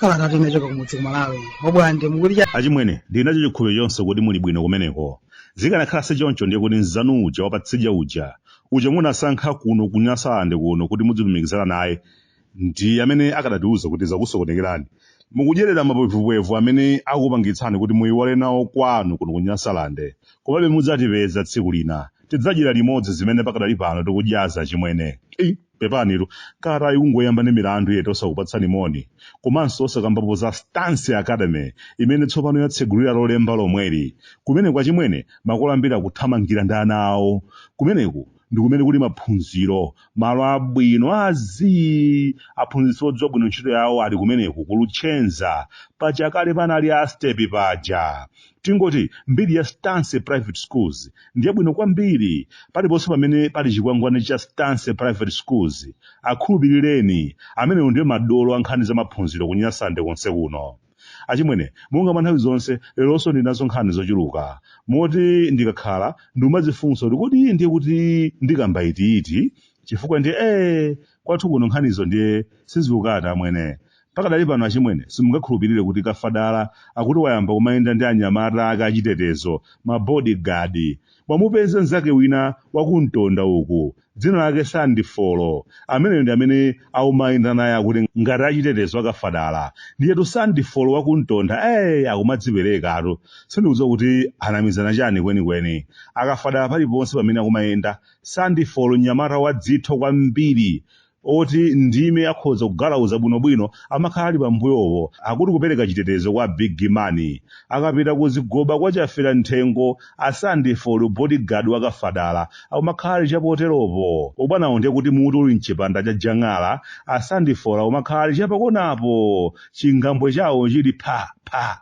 Kalata yochoka kumudzi ku Malawi obwande akuti achimwene ndili nacho chikhulupiriro chonse kuti muli bwino kumeneko zikanakhala si choncho ndiye kuti mzanu uja wapatsidya uja uja munasankha kuno kunyasalande kuno kuti mudzilumikizana naye ndi amene akadatiuza kuti zakusokonekerani mukudyerera mapwevupwevu amene akupangitsani kuti muyiwale nawo kwanu kuno ku nyasalande komabe mudzatipeza tsiku lina tidzadyera limodzi zimene pakadali pano tikudyazi achimwene Ei, pepanitu kalata ikungoyamba ndi milandu yet osakupatsani moni komanso osakambapo za stance academy imene tsopano yatsegulira lolemba lomweli kumeneko achimwene makolo ambiri akuthamangira ndi ana awo kumeneko ndi kumene kuli maphunziro malo abwino a zii aphunzitsi odziwa bwino ntchito yawo ali kumeneko ku Luchenza pachakale panali a stepi paja tingoti mbiri ya stance private schools ndiyabwino kwambiri paliponse pamene pali chikwangwani cha stance private schools akhulupirireni amenewo ndiye madolo a nkhani za maphunziro kunyasalande konse kuno achimwene monga mwa nthawi zonse leronso ndili nazo nkhani zochuluka moti ndikakhala ndimadzifunsa kuti kodi ndiye kuti ndikamba itiiti chifukwa ndiye ee kwathu kuno nkhanizo ndiye sizikukata amwene pakadali pano achimwene simungakhulupirire kuti kafadala akuti wayamba kumayenda ndi anyamata ake achitetezo mabodyguard wamupeza mnzake wina waku Ntonda uku dzina lake Sandi Folo, ameneyo ndi amene akumayenda naye akuti ngati achitetezo akafadala. Ndiyetu Sandi Folo wa ku Ntonda, ee, akumadziperekatu. Sindikudziwa kuti anamizana chani kwenikweni. Akafadala paliponse pamene akumayenda, Sandi Folo mnyamata wadzitho kwambiri oti ndi ine akhoza kungalauza bwinobwino amakhala ali pambuyopo akuti kupereka chitetezo kwa big man akapita kuzigoba kwa Chaferamthengo a Sandi Folo bodyguard wa kafadala akumakhala ali chapoteropo abwanawo ndiye kuti muti uli mchipanda cha jang'ala a Sandi Folo akumakhala ali chapakonapo chingambwe chawo chili pha pha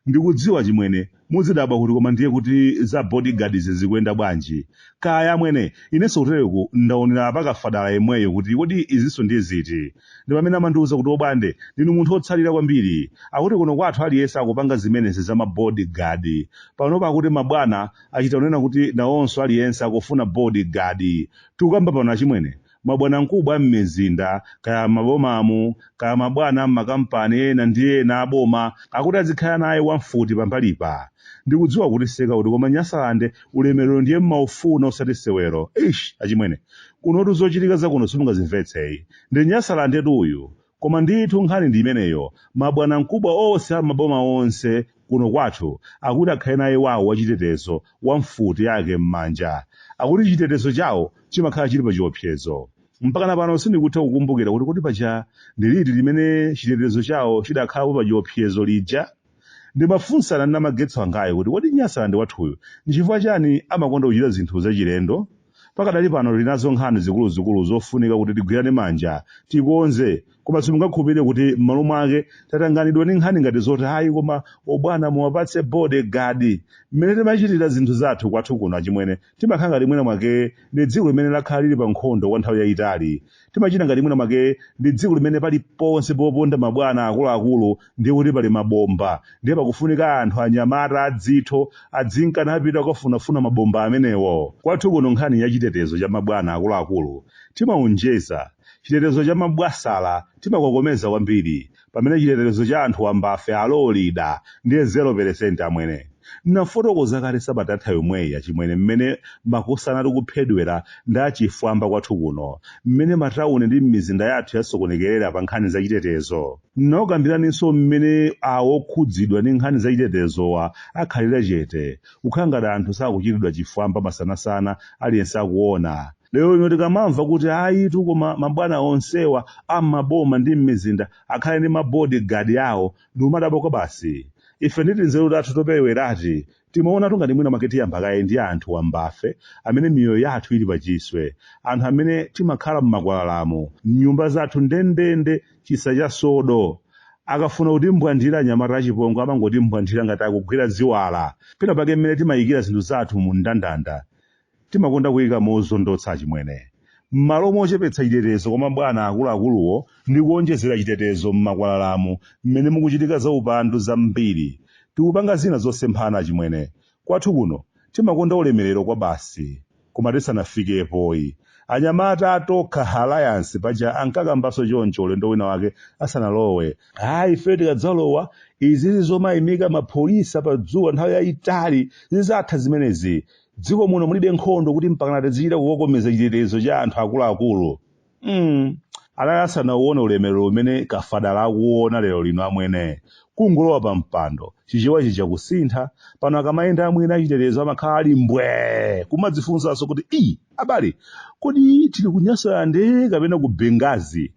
Ndikudziwa achimwene, muzidabwa kuti koma ndiye kuti za body guard izi zikuyenda bwanji? Kaya amwene, inenso kutereku ndaonera pa Kafadala yemweyo kuti kodi izinso ndiye ziti? Ndipamene amandiuza kuti obwande, ndinu munthu otsalira kwambiri. Akuti kuno kwathu aliyense akupanga zimenezi za ma body guard. Panopa akuti ma bwana achita kunena kuti nawonso aliyense akufuna body guard. Tikukamba pano achimwene, mabwanamkubwa a m'mizinda kaya m'mabomamu kaya mabwana a m'makampani ena ndi ena a boma akuti azikhala naye wamfuti pambalipa. Ndikudziwa mukutiseka kuti koma Nyasalande ulemerero ndiye mumaufuna osati sewero. Eish! Achimwene, kunotu zochitika za kuno simungazimvetse. Ndi Nyasalandetu uyu. Koma ndithu nkhani ndi imeneyo mabwanamkubwa onse a m'maboma onse kuno kwathu akuti akhale naye wawo wachitetezo wa mfuti yake m'manja. Akuti chitetezo chawo chimakhala chili pachiopsezo. Mpakana pano sindikutha kukumbukira kuti kodi paja ndi liti limene chitetezo chawo chidakhalapo pachiopsezo lija? Ndimafunsana ndi Namagetsi wangayu kuti kodi Nyasalande wathuyu nchifukwa chani amakonda kuchita zinthu zachilendo? Pakadali pano tili nazo nkhani zikuluzikulu zofunika kuti tigwirane manja tikonze koma simungakhulupilire kuti m'malo mwake tatanganidwa ndi nkhani ngati zoti ayi koma obwana muwapatse body guard. Mmene timachitira zinthu zathu kwathu kuno achimwene Timakhala ngati mwina mwake ndi dziko limene lakhala lili pa nkhondo kwa nthawi yayitali. Timachita ngati mwina mwake ndi dziko limene paliponse poponda mabwana akuluakulu ndiye kuti pali mabomba. Ndiye pakufunika anthu anyamata adzitho adzinka napita kukwafunafuna mabomba amenewo. Kwathu kuno nkhani ya chitetezo cha mabwana akuluakulu timaonjeza. Chitetezo cha mabwasala timakokomeza kwambiri. pamene chitetezo cha anthu wambafe alolida ndiye 0% amwene. Nnafotokoza kale sabata yatha yomweyi achimwene mmene makosana tikuphedwera ndi achifwamba kwathu kuno, mmene matauni ndi mmizinda yathu yasokonekerera pa nkhani za chitetezo. Nnakukambiraninso mmene awo okhudzidwa ndi nkhani za chitetezowa akhalira chete, kukhala ngati anthu sakuchitidwa chifwamba masanasana aliyense akuona. lero ino tikamamva kuti ayitu koma mabwana onsewa am'maboma ndi m'mizinda akhale ndi mabodi gadi awo ndimadabwa kwabasi ife ndi tinzeru tathu topewerati timaona ngati mwina make tiyamba kaye ndi anthu wambafe amene miyoyo yathu ili pachiswe anthu amene timakhala m'makwalalamu m'nyumba zathu ndendende chisa cha sodo akafuna kutimbwandira anyamata achipongwe amangotimbwandira ngati akugwira ziwala pena pake mmene timayikira zinthu zathu mu ndandanda Timakonda kuika mozondotsa achimwene. M'malo mochepetsa chitetezo kwa mabwana akuluakuluwo ndi kuwonjezera chitetezo m'makwalalamu mmene mukuchitika zaupandu zambiri, tikupanga zina zosemphana achimwene. Kwathu kuno timakonda ulemerero kwabasi. Koma tisanafikepoyi, anyamata a Tokha Halayansi paja ankakambaso choncho ulendo wina wake asanalowe. Ayi, ifeyo tikadzalowa, izizi zomaimika mapholisa padzuwa nthawi yaitali, zidzatha zimenezi. dziko muno mulibe nkhondo kuti mpakana tizichita kukokomeza chitetezo cha anthu akuluakulu mm. anali asanauone ulemerero umene kafadala akuona lero lino amwene kungolowa pa mpando chichewa chija kusintha pano akamayenda amwene achitetezo amakhala ali mbwe kumadzifunsanso kuti i abale kodi tili ku nyasalande kapena ku benghazi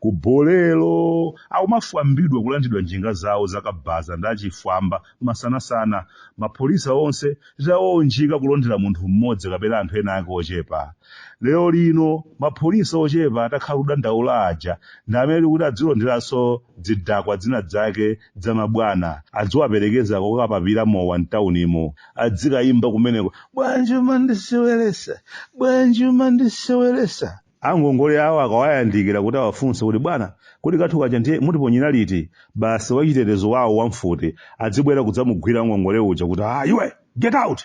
Ku Bolero, akumafwambidwa kulandidwa njinga zawo za kabaza ndi achifwamba masanasana, mapholisa onse titawaunjika kulondera munthu mmodzi kapena anthu ena ake ochepa. Lero lino, mapholisa ochepa takhala tikudandaula aja ndi amene tikuti adzilonderanso dzidakwa dzina dzake dza mabwana, adziwaperekeza kokapapira mowa mtaunimu, adzikaimba kumeneko, Bwanji umandisewelesa, bwanji umandisewelesa? Angongole awo akawayandikira kuti awafunse kuti bwana, kodi kathu kaja ndiye mutiponyera liti? Basi wachitetezo wawo wa mfuti adzibwera kudzamugwira wangongole uja kuti, ah, iwe! Get out!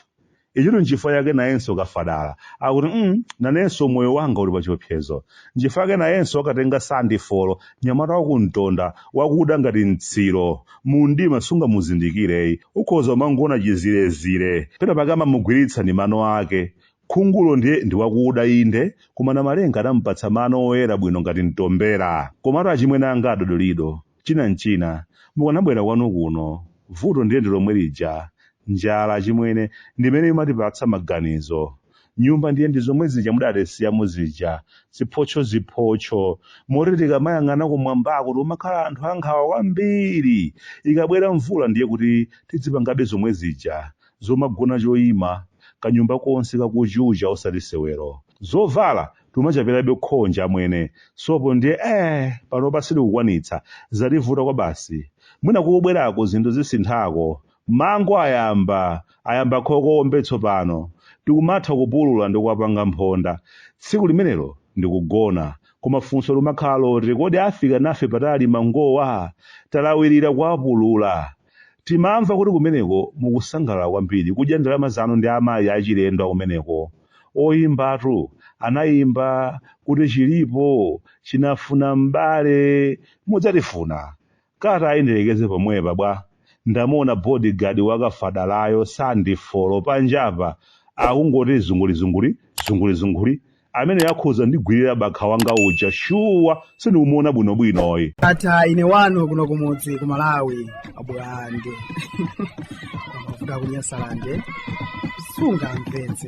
Ichitu nchifukwa chake nayenso kafadala akuti mm, nanenso moyo wanga uli pachiopsezo. Nchifukwa chake nayenso wakatenga Sandi Folo, nyamata wa ku Mtonda, wakuda ngati mtsiro. Mu mdima sungamuzindikire yi. Ukhoza umangoona chizirezire. Pena pake amamugwiritsa ndi mano ake. Khungulo ndiye ndi wakuda inde, koma Namalenga anampatsa mano oyera bwino ngati mtombera. Komatu achimwene anga a Dodolido, china n'china, mukanabwera kwanu kuno. Vuto ndiye ndi lomwe lija. Njala, achimwene, ndi imene imatipatsa maganizo. Nyumba ndiye ndi zomwe zija mudatisiyamo zija, ziphotchoziphotcho, moti tikamayang'ana kumwambako tikumakhala anthu ankhawa kwambiri. Ikabwera mvula ndiye kuti tidzipangabe zomwe zija. zomagona choima kanyumba konse kakuchucha osati sewero zovala tumachapirabe khonje amwene sopo ndiye ee panopa sitikukwanitsa zativuta kwabasi mwina kukubwerako zinthu zisinthako mango ayamba ayamba khoko ombe tsopano tikumatha kupulula ndi kuwapanga mphonda tsiku limenelo ndikugona koma funso limakhala loti kodi afika nafe patali mangowa talawirira kuwapulula Timamva kuti kumeneko mukusangalala kwambiri kudya ndalama zanu ndi amayi achilendo akumeneko. Oyimbatu anayimba kuti chilipo chinafuna m'bale mudzatifuna. Katayi ndilekeze pomwepa bwa? Ndamuona body guard wa kafadalayo Sandi Folo panjapa akungoti zungulizunguli, zungulizunguli, ameneyo akhoza ndigwirira bakha wanga uja shuwa sindikumuona bwinobwinoyi ndatha ine wanu kuno kumudzi ku malawi abwande kuda kunyasalande sungamvetse